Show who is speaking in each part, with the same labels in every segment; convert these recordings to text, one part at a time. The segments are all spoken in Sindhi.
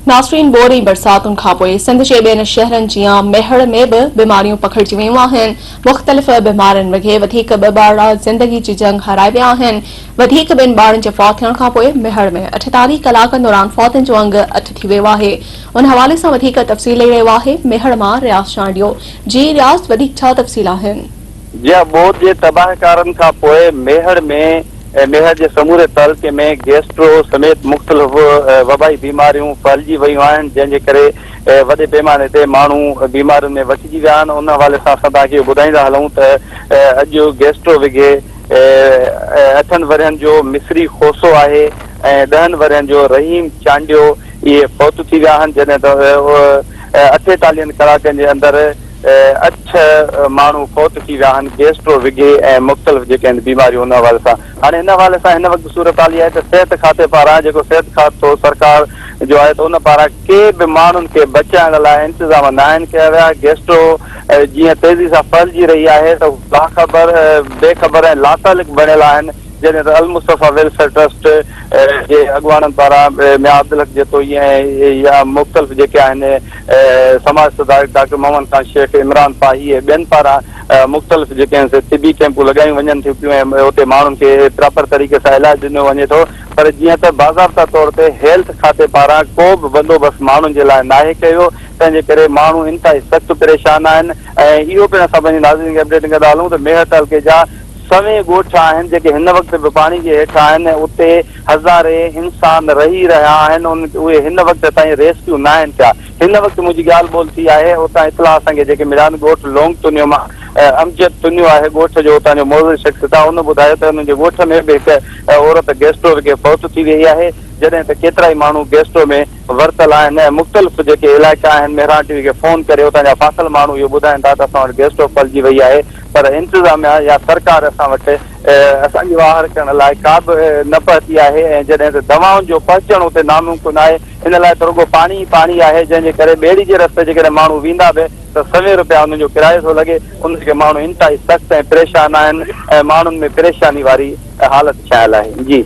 Speaker 1: ناصرين ٻوڏ ۽ برساتن کانپوء سنڌ جي ٻين شهرن جيان ميهڙ ۾ به بيماريون پکڙجي ويون آهن، مختلف بيمارين وگهي وڌيڪ ٻه ٻارڙا زندگي جي جنگ هارائي ويا آهن، وڌيڪ ٻن ٻارڙن جي فوت ٿيڻ کانپوء ميهڙ ۾ اٺيتاليهه ڪلاڪن دوران فوتن جو انگ اٺ ٿي ويو آهي، ان حوالي سان وڌيڪ تفصيل ڏئي رهيو آهي ميهڙ مان رياض چانڊيو، جي رياض وڌيڪ ڇا تفصيل آهن؟ جيئن ٻوڏ
Speaker 2: جي تباهڪارن کان پوء ميهڙ ۾ ۽ ميهڙ جي سموري تعلقي ۾ گيسٽرو سميت مختلف وبائي بيماريون ڦهلجي ويون آهن جنهن جي ڪري وڏي پيماني تي ماڻهو بيمارين ۾ وٺجي ويا آهن ان حوالي سان اسان توهان کي اهو ٻڌائيندا هلون ته اڄ گيسٽرو وگهي اٺن ورهين جو مصري کوسو آهي ۽ ڏهن ورهين جو رحيم چانڊيو اهي فوت ٿي ويا آهن جڏهن ته اٺيتاليهن ڪلاڪن جي اندر اٺ ماڻهو فوت ٿي ويا آهن گيسٽرو وگهي ۽ مختلف جيڪي آهن بيماريون ان حوالي سان هاڻي ان حوالي سان هن وقت صورتحال اها آهي ته صحت کاتي پاران جيڪو صحت کاتو سرڪار جو آهي ته ان پاران ڪي به ماڻهن کي بچائڻ لاء انتظام ناهن ڪيا ويا گيسٽرو جيئن تيزي سان ڦهلجي رهي آهي ته لاخبر بي خبر ۽ لاتعلق بڻيل آهن جڏهن ته المصطفيٰ ويلفيئر ٽرسٽ جي اڳواڻن پاران ميان عبدالحق جتوئي ۽ يا مختلف جيڪي آهن سماج سڌارڪ ڊاڪٽر محمد خان شيخ، عمران پاهي ۽ ٻين پاران مختلف جيڪي طبي ڪيمپون لڳايون وڃن ٿيون پيون ۽ اتي ماڻهن کي پراپر طريقي سان علاج ڏنو وڃي ٿو پر جيئن ته باضابطا طور تي هيلٿ کاتي پاران ڪو به بندوبست ماڻهن جي لاء ناهي ڪيويو تنهن جي ڪري ماڻهو انتهائي سخت پريشان آهن ۽ اهو پڻ اسان پنهنجي ناظرين کي اپڊيٽ ڪندا هلون ته ميهر تعلقي جا سوين ڳوٺ آهن جيڪي هن وقت به پاڻي جي هيٺ آهن ۽ اتي هزارين انسان رهي رهيا آهن ان اهي هن وقت تائين ريسڪيو ناهن ٿيا هن وقت منهنجي ڳالهه ٻولهه ٿي آهي اتان اطلاع اسان کي جيڪي مليا آهن ڳوٺ لونگ تنيو مان امجد تنيو آهي ڳوٺ جو اتان جو معزز شخص ته ان ٻڌايو ته انهن جي ڳوٺ ۾ به هڪ عورت گيسٽرو رڳي فوت ٿي ويئي آهي جڏهن ته ڪيترائي ماڻهو گيسٽرو ۾ ورتل آهن ۽ مختلف جيڪي علائقا آهن مهراڻ ٽي وي کي فون ڪري اتان جا فاقل ماڻهو اهو ٻڌائين ٿا ته اسان وٽ گيسٽرو ڦهلجي وئي آهي پر انتظاميا يا سرڪار اسان وٽ اسان جي واهر ڪرڻ لاء ڪا به نه پهتي آهي ۽ جڏهن ته دوائن جو پهچڻ اتي ناممڪن آهي ان لاء ته رڳو پاڻي ئي پاڻي آهي جنهن جي ڪري ٻيڙي جي رستي جيڪڏهن ماڻهو ويندا به ته سوين روپيا انهن جو ڪرايو ٿو لڳي ان ڪري ماڻهو انتهائي سخت ۽ پريشان آهن ۽ ماڻهن ۾ پريشاني واري حالت ڇانيل آهي
Speaker 1: جي.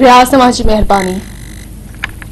Speaker 2: رياض
Speaker 1: توهان
Speaker 2: جي مهرباني.